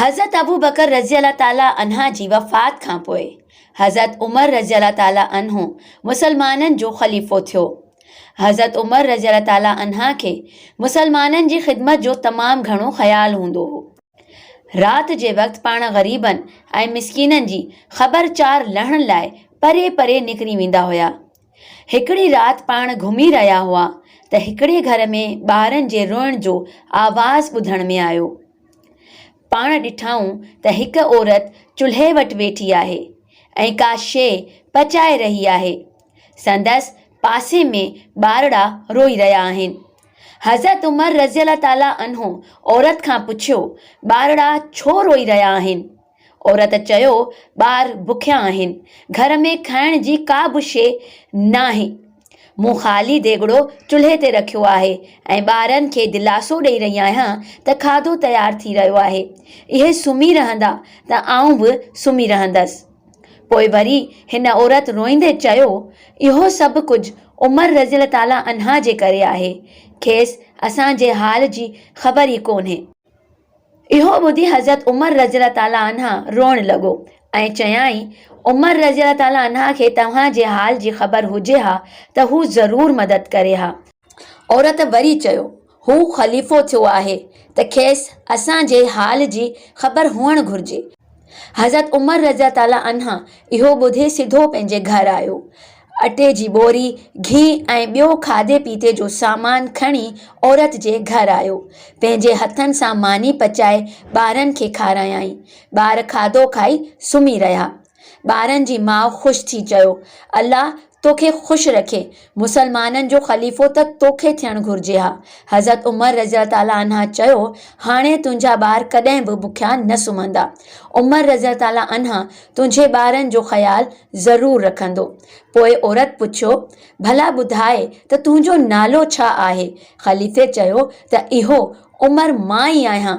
حضرت ابوبڪر رضي الله تعالٰي عنه جي وفات کان پوء حضرت عمر رضي الله تعالٰي عنه مسلمانن جو خليفو ٿيو. حضرت عمر رضي الله تعالٰي عنه کي مسلمانن جي خدمت جو تمام گهڻو خيال هوندو هو. رات جي وقت پاڻ غريبن ۽ مسڪينن جي خبر چار لهڻ لاء پري پري نڪري ويندا هيا. هڪڙي رات پاڻ گهمي رهيا هئا ته هڪڙي گهر ۾ ٻارن جي روئڻ جو آواز ٻڌڻ ۾ آيو. پاڻ ڏٺائون ته هڪ عورت چلهي وٽ ويٺي آهي ۽ ڪا شيء پچائي رهي آهي. سندس پاسي ۾ ٻارڙا روئي رهيا آهن. حضرت عمر رضي الله تعالٰي عنه عورت کان پڇيو، ٻارڙا ڇو روئي رهيا آهن؟ عورت چيو، ٻار بکيا آهن، گهر ۾ کائڻ جي ڪا به شيء ناهي، مون خالي ديڳڙو چلهي تي رکيو آهي ۽ ٻارن کي دلاسو ڏئي رهي آهيان ته کاڌو تيار ٿي رهيو آهي، اهي سمهي رهندا ته آئون به سمهي رهندس. پوء وري هن عورت روئيندي چيو، اهو سڀ ڪجهه عمر رضي الله تعالٰي عنه جي ڪري آهي، کيس اسان جي حال جي خبر ئي ڪونهي. اهو ٻڌي حضرت عمر رضي الله تعالٰي عنه روئڻ لڳو ۽ چيائين، عمر رضي الله تعالٰي عنه کي توهان جي حال جي خبر هجي ها ته هو ضرور مدد ڪري ها. عورت وري چيو، هو خليفو ٿيو آهي ته کيس اسان جي حال جي خبر هئڻ گهرجي. حضرت عمر رضي الله تعالٰي عنه اهو ٻڌي سڌو پنهنجي گهر آيو. اٽي جي ٻوري، گهي ۽ ٻيو کاڌي پيتي جو سامان کڻي عورت جي گهر آيو. پنهنجي هٿن سان ماني پچائي ٻارن کي کارايائين. ٻار کاڌو کائي سمهي رهيا. ٻارن جي ماء خوش ٿي چيو، الله تو کي خوش رکي، مسلمانن جو خليفو ته تو کي ٿيڻ گهرجي ها. حضرت عمر رضي الله تعالٰي عنه چيو، هاڻي تنهنجا ٻار ڪڏهن به بکيا نه سمهندا. عمر رضي الله تعالٰي عنه تنهنجي ٻارن جو خيال ضرور رکندو. پوء عورت پڇيو، ڀلا ٻڌاء ته تنهنجو نالو ڇا آهي؟ خليفي چيو ته اهو عمر مان ئي آهيان.